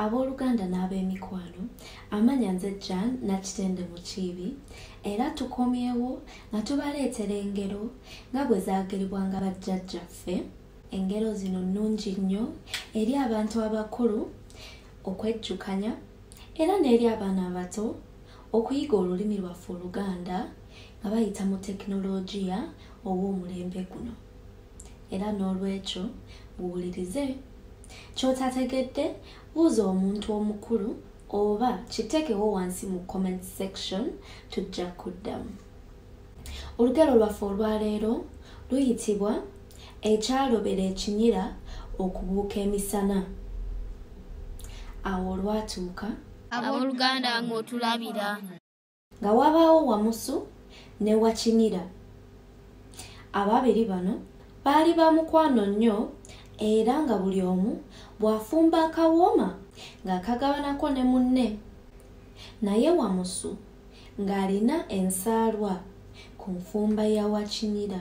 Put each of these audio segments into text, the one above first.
Abooluganda n'ab'emikwano, amanya nze Jan Nakitende Mukiibi era tukomyewo nga tubaleetera engero nga bwe zaageribwanga bajjajjaffe. Engero zino nnungi nnyo eri abantu abakulu okwejjukanya era n'eri abaana abato okuyiga olulimi lwaffe Oluganda nga bayita mu tekinologiya ow'omulembe guno. Era n'olwekyo muwulirize kyotategedde buuza omuntu omukulu oba kitekewo wansi mu comment section tujja kuddamu olugero lwaffe olwaleero luyitibwa ekyalobera ekinyira okubuuka emisana awo olwatuuka aboluganda ng'otulabira nga wabaawo wamusu ne wakinira ababiri bano baali ba mukwano nnyo era nga buli omu bw'afumba akawooma ng'akagabanako ne munne naye wamusu ng'alina ensaalwa ku nfumba ya wakinira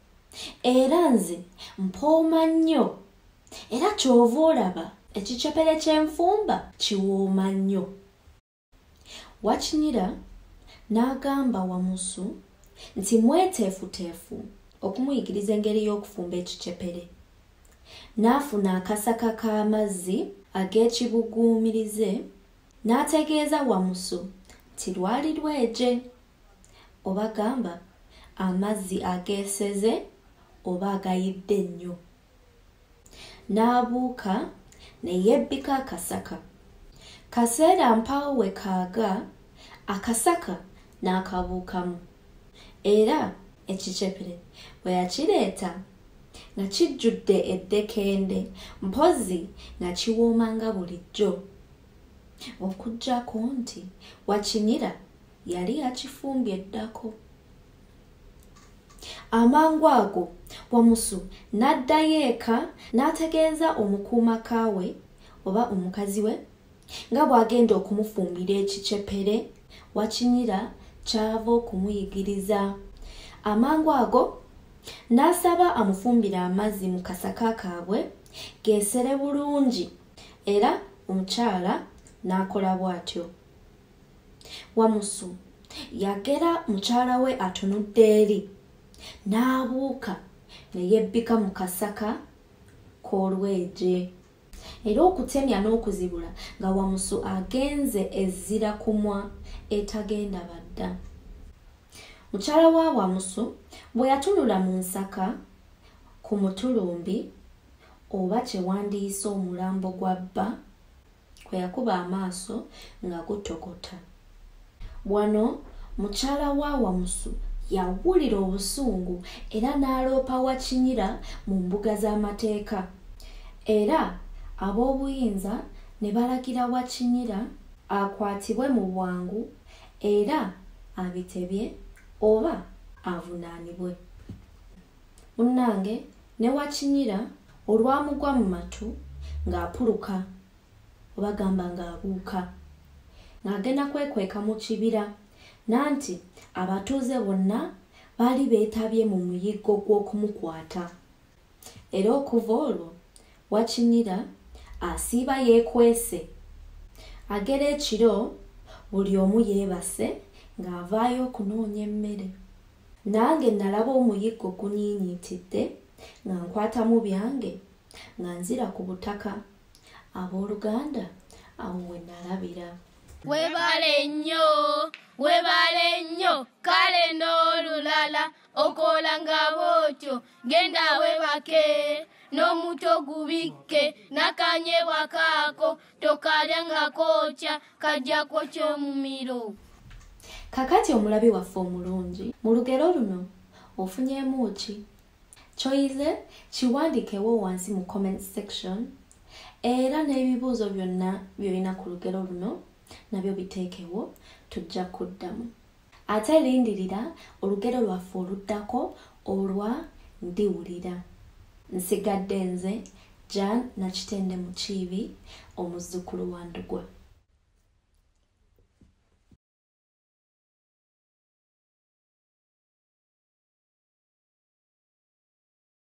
era nze mpooma nnyo era kyova olaba ekicepere kyenfumba kiwooma nnyo wakinyira n'agamba wamusu nti mweteefuteefu okumuyigiriza engeri y'okufumba ekicepere n'afuna akasaka k'amazzi ag'ekibuguumirize n'ategeeza wamusu nti lwali lweje obagamba amazzi ageeseze oba agayidde nnyo n'abuuka ne yebbika akasaka kaseera mpaawo we kaaga akasaka n'akabuukamu era ekicepere bwe yakireeta nga kijjudde eddekende mpozzi nga kiwooma nga bulijjo okuggyako nti wakinira yali yakifumbye ddako amangu ago wamusu n'addayo eka n'ategeeza omukuuma kaawe oba omukazi we nga bw'agenda okumufumbira ekicepere wakinyira kyava okumuyigiriza amangu ago n'asaba amufumbira amazzi mu kasaka kaabwe geesere bulungi era omukyala n'akola bw'atyo wamusu yagera mukyala we atunudde eri n'abuuka ne yebbika mu kasaka k'olweje era okutemya n'okuzibula nga wamusu agenze ezzira kumwa etagenda badda mukyala wa wamusu bwe yatunula mu nsaka ku mutulumbi oba kyewandiyise omulambo gwa bba kwe yakuba amaaso nga gutokota wano mukyala wa wamusu yawulira obusungu era n'aloopa wakinyira mu mbuga z'amateeka era ab'obuyinza ne balagira wakinyira akwatibwe mu bwangu era abitebye oba avunaanibwe munnange ne wakinyira olwamugwa mu matu ng'apuluka oba gamba ng'abuuka ng'agenda kwekweka mu kibira nanti abatuuze bonna baali beetabye mu muyiggo gw'okumukwata era okuva olwo wakinyira asiiba yeekwese agera ekiro buli omu yeebase ng'avaayo okunoonya emmere Nange nalaba omuyiggo gunyiinyiitidde nga nkwatamu byange nga nzira ku butaka. Abooluganda awo we nalabira. Webale nnyo webale nnyo kale n'olulala okola nga bwotyo genda webake n'omuto gubikke nakanyebwa kaako tokalya nga kookya kajja kwokya omumiro kakati omulabi waffe omulungi mu lugero luno ofunyemu ki kyoyize kiwandikewo wansi mu comment section era n'ebibuuzo byonna byolina ku lugero luno nabyo biteekewo tujja kuddamu Ate lindirira olugero lwaffe oluddako olwa Ndiwulira. Nsigadde nze, Jan Nakitende Mukiibi, omuzzukulu wa Ndugwa.